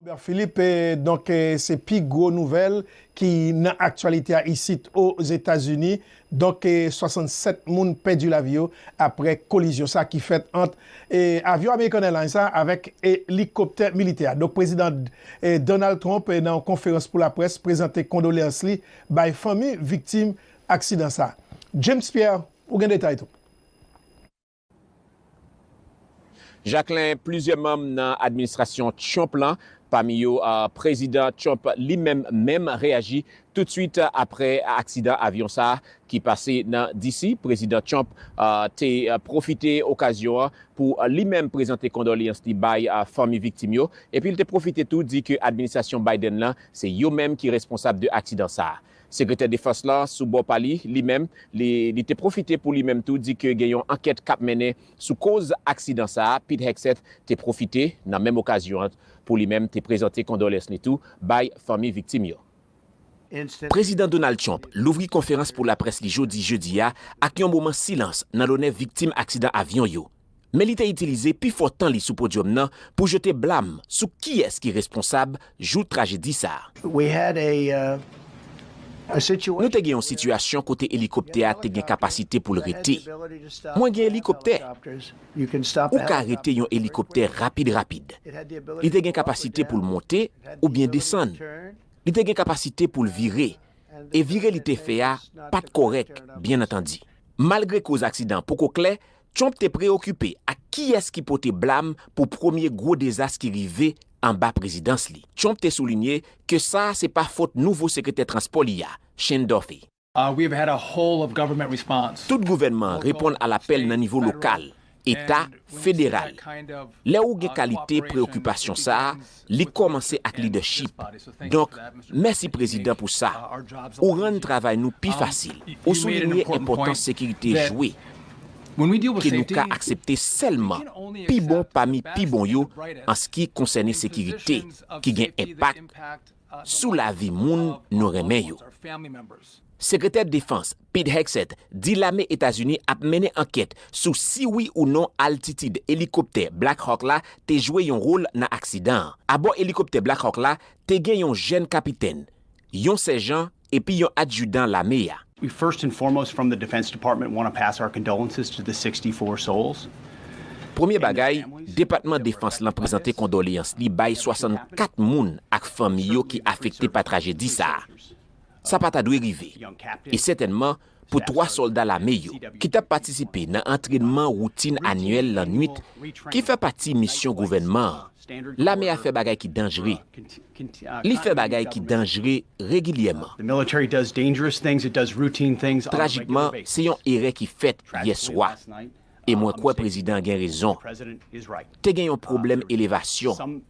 Robert Philippe, Donk se pi gwo nouvèl ki nan aktyalite a isit o Zetazini. Donk 67 moun pèdi lavi yo aprè kolizyon sa ki fèt ant avyon American Airlines la avèk elikoptè militè a. Donk Prezidan Donald Trump nan yon konferans pou laprès prezante kondoleyans li bay fanmi viktim aksidan sa. James Pierre, ou gen detay tou. Jaklen plizyè manm nan administrasyon Trump lan, pami yo Prezidan Trump li menm menm reyaji toutswit apre aksidan avyon sa a ki pase nan DC. Prezidan Trump te pwofite okazyon an pou li menm prezante kondolyans li bay fanmi viktim yo epi l te pwofite tou di ke administrasyon Biden lan se yo menm ki responsab de aksidan sa a. Sekretè Defans la, sou bò pa li, li menm, li li te pwofite pou li menm tou di ke gen yon ankèt k ap mennen sou koz aksidan sa a. Pete Hegseth te pwofite, nan menm okazyon an, pou li menm te prezante kondolens li tou bay fanmi viktim yo. Prezidan Donald Trump louvri konferans pou laprès li jodi jedi a ak yon moman silans nan lonè viktim aksidan avyon yo. men li te itilize pi fò tan li sou podyòm nan pou jete blam sou kiyès ki responsab jou trajedi sa. Nou te gen yon sitiyasyon kote elikoptè a te gen kapasite pou l rete. Mwen gen elikoptè. Ou ka rete yon elikoptè rapid rapid. Li te gen kapasite pou l monte oubyen desann. Li te gen kapasite pou l vire, e vire li te fè a pa t kòrèk, byennantandi. Malgre koz aksidan an poko klè, Trump te preyokipe ak kiyès ki pote blam pou premye gwo dezas ki rive anba prezidans li. Trump te soulinye ke sa a se pa fot nouvo sekretè transpò li a, Shane Duffy. Tout gouvènman an reponn a lapèl nan nivo lokal, eta, federal. Lè ou gen kalite preyokipasyon sa a, Li kòmanse ak lidèchip. Donk, mèsi Prezidan pou sa. Ou rann travay nou pi fasil. Ou soulinye enpòtans sekirite jwe, ke nou ka aksepte sèlman pi bon pami pi bon yo anski konsène sekirite ki gen enpak sou lavi moun nou renmen yo. Sekretè Defans Pete Hegseth di lame Etazini ap mennen ankèt sou si wi ou non altitid elikoptè Black Hawk la te jwe yon wol nan aksidan an. Abò elikoptè Black Hawk la te gen yon jèn kapitèn, yon sèjan epi yon adjidan lame a. We first and foremost from the Defense Department want to pass our condolences to the 64 souls Premye bagay, Depatman Defans lan prezante kondoleyans li bay 64 moun ak fanmi yo ki afekte pa trajedi sa a. Sa pa ta dwe rive, e sètènman pou twa sòlda lame yo ki t ap patisipe nan antrènman woutin anyèl lannwit ki fè pati misyon gouvènman an. Lame a fè bagay ki danjre. Li fè bagay ki danjre regilyèman. Trajikman, se yon erè ki fèt yè swa, e mwen kwè prezidan an gen rezon. Te gen yon pwoblèm elevasyon.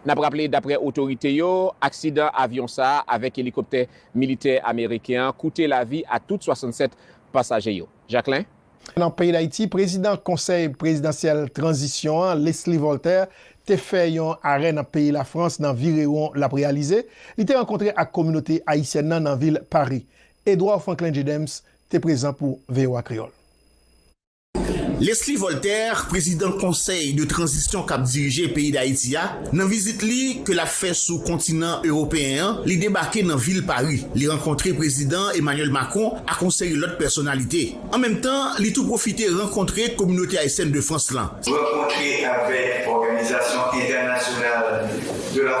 N ap raple, daprè otorite yo, aksidan avyon sa a avèk elikoptè militè ameriken an koute lavi a tout 67 pasaje yo. Jacquelin. Nan peyi Dayiti, prezidan Konsèy prezidansyèl tranzisyon an, Leslie Voltaire, te fè yon arè nan peyi Lafrans nan virewon l ap reyalize. Li te rankontre ak kominote ayisyèn nan nan vil Pari. Edouard Francklin Dieudemps te prezan pou voa Kreyòl. Leslie Voltaire, prezidan konsèy de tranzisyon kap dirije peyi Dayiti a, nan vizit li ke lap fè sou kontinan ewopeyen an, li debake nan vil Pari, li rankontre prezidan Emmanuel Macron ak on seri lòt pèsonalite. An menm tan, li tou pwofite rankontre kominote ayisyèn de Frans lan. Rankontre avèk òganizasyon entènasyonal de la.